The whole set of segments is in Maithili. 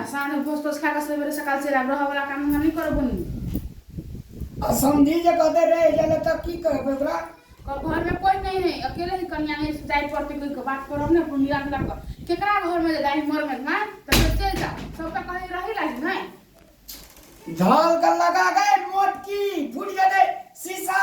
आसानमे भोज तोज खाके सुबह बेरे सकाल चलि आएब रहऽवला काम हमरा नहि करऽ बहिन आ समधी जे कहते रहि जाइ लए तऽ की कहबै ओकरा क- घरमे कोइ नहि है अकेले ही कनिया नहि से जाइ पड़तै कहि कऽ बात करब ने अपन मिला जुला कऽ केकरा घरमे जे दाइ मरमे भाय तऽ फेर चलि जाउ सब तऽ कहै रही लाज नहि धल के लगा गए मोटकी फूट जेतै शीशा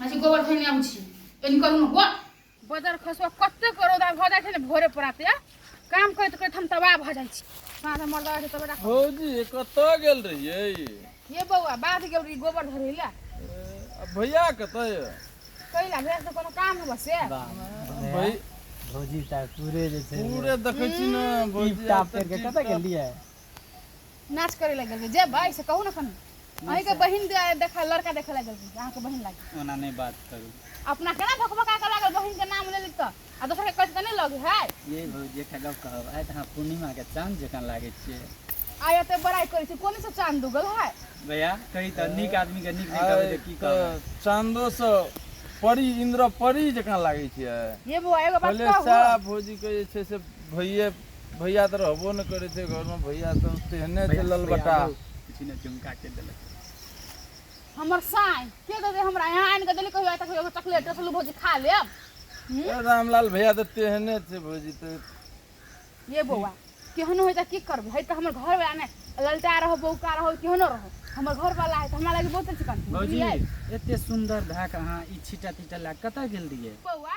माछी गोबर खैने आबै छी एनी करू ने बड़ बदर खसो कते करो दा भऽ जाइ छै ने भोरे पराते काम करैत करैत हम तबाह भऽ जाइ छी साँझ हमर दवा छै तबे राखब भौजी कतऽ गेल रहियै ये बौआ बाध गेल रही गोबर धरे ले आ भैया कतऽ यऽ कैला भेल से कोनो काम होबऽ से भाई भौजी ता पूरे जे छै पूरे देखै छी ने भौजी टिप टाप करके कतऽ गेलियै नाच करे लग गेल जे भाई से कहू ना कन अही के बहिन दे- देखा लड़का देखे लग गेल अहाँ के बहिन लागे ओना नहीं बात करू अपना के ना भकभका के लागल बहिन के नाम ले ली तो आ दोसर के कट के नहीं लगे है ये भौजी एकटा गप कहब आइ तऽ अहाँ पूर्णिमा के चाँद जकाँ लागै छियै आ या तो बड़ाई करे छी कोनी से चांद उगल है भैया कही तऽ नीक आदमी के नीक नीक कहबै तऽ की कहबै चांदो से परी इंद्र परी जकाँ लागै छियै ये बुआ एगो बात पहिले कहू सारा भौजी के जे छै से भैये भैया तऽ रहबो नहि करै छै घरमे भैया सब तेहने छै ललबटा किछु ने चुमका के देलक हमर साई के दे दे हमरा यहाँ आनि के देली कहियो आइ तक एगो चॉकलेट रसलू भौजी खा लेब हम्म? ए, रामलाल भैया तऽ तेहने छै भौजी तऽ ये बौआ केहनो होइ तऽ की करबै है तऽ हमर घर वाला ने ललटा रहो बौका रहो केहनो रहो हमर घर वाला है तऽ हमरा लागि बहुत चिकन भौजी एते सुंदर भए के अहाँ ई छीटा तीटा लए कतऽ गेल रहियै बौआ